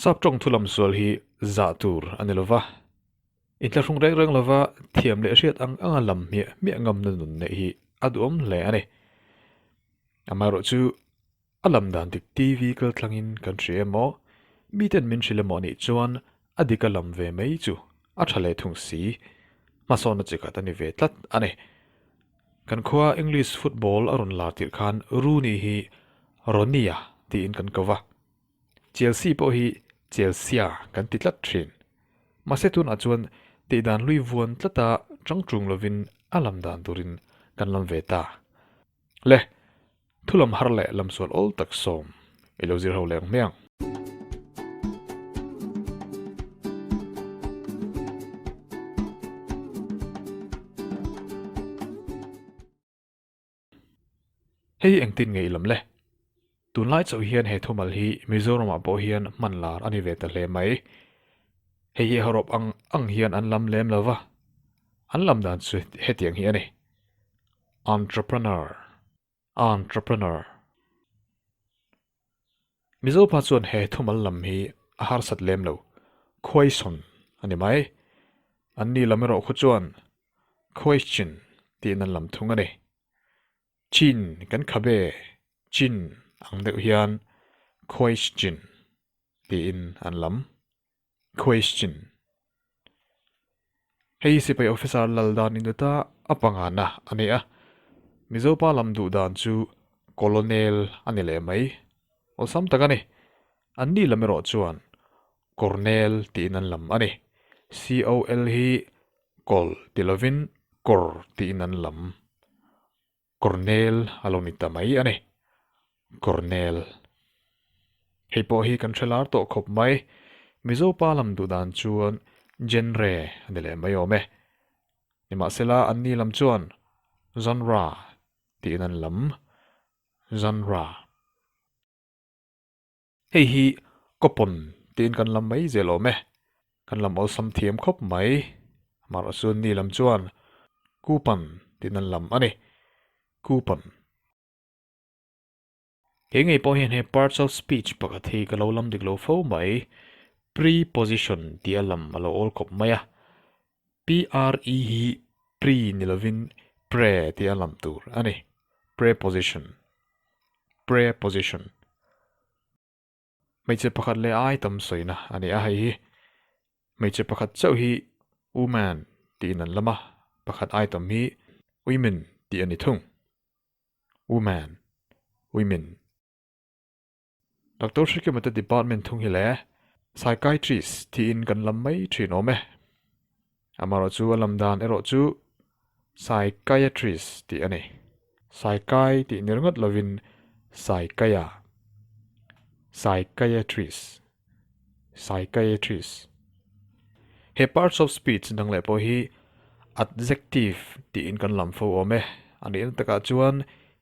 Sap tawng thu lam sual hi zah tur a ni lo va, intla hrung reng reng lova thiam leh hriat ang anga lam hmiah hmiah ngamna nun neih hi a duhawm hle a ni. Amaherawh chu a lam dan dik TV kal thlangin kan hria e maw, miten min hrilh emaw nih chuan a dik a lam ve mai chu a tha leh thung si hmasawn a chikhat a ni ve tlat a ni. Kan khua English football a rawn lar tirh khan Rooney hi Ronnie-a tiin kan ko va. Chelsea pawh hi Chelsea kan ti tlat thin. Mahse tunah chuan tihdan hlui vuan tlata ṭangṭung lovin a lam dan turin kan lam ve ta. Le, thulam har leh lamsual awl tak sawm i lo zir ho leng hmiang. Hei hi engtin ngeih lam le? Tunlai chauh hian he thumal hi Mizoramah pawh hian hmanlar a ni ve ta hle mai. Hei hi Horop ang ang hian an lam lem lo va. An lam dan chu hetiang hi a ni, Entrepreneur, Entrepreneur. Mizo pa chuan he thumal lam hi a harsat lem lo, Khuaisawn a ni mai. An ni lam erawh khaw chuan Khuaichin tiin an lam thung a ni. Chin kan khabe Chin ang deuh hian Khuaichin tiin an lam. Question, Hei sipai officer lal dan in ta a panga na a nei a, Mizo pa lam duh dan chu Colonel a ni leh mai, awlsam tak a ni, an ni lam erawh chuan Cornel tiin an lam a ni, COL hi Col tilo vin Kor tiin an lam. Cornel a lo ni ta mai a ni. Cornel. Hei pawh hi kan hre lar tawh khawp mai. Mizo pa lam duh dan chuan Genre a ni leh mai awm e. Nimahsela an ni lam chuan Genre tiin an lam. Genre. Hei hi coupon tiin kan la mai zel awm e, kan lam awlsam thiam khawp mai. Mahrasun mi lam chuan coupon tiin an lam a ni. Coupon. He ngei pawh hian he partial speech pakhat hi ka lo lam dik lo fo mai. Preposition tia lam a lo awl khawp mai a. Pre hi pre ni lovin pre tih a lam tur a ni. Preposition, Preposition. Hmeichhe pakhat leh ai tam sawina a ni a hei hi. Hmeichhe pakhat chauh hi woman tiin an lam a, pakhat ai tam hi women tih a ni thung. Woman, women. Doctor Shikimata Department thung hi leh Psychiatrist thiin kan lam mai thin awm e. Amaherawh chu a lam dan erawh chu Psychiatrist tih a ni. Psychi tih nir ngawt lovin Psychia, Psychiatrist. psychiatrist. He parts of speech dang leh pawh hi adjective tiin kan lam fo awm e. A nih na takah chuan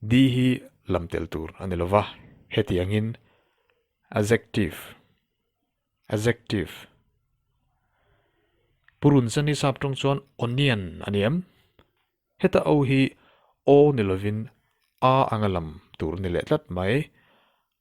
di hi lam tel tur a ni lo va, hetiangin adjective, adjective. Purun san hi sap tawng chuan onion a ni em? Heta o hi aw ni lovin a anga lam tur ni leh tlat mai.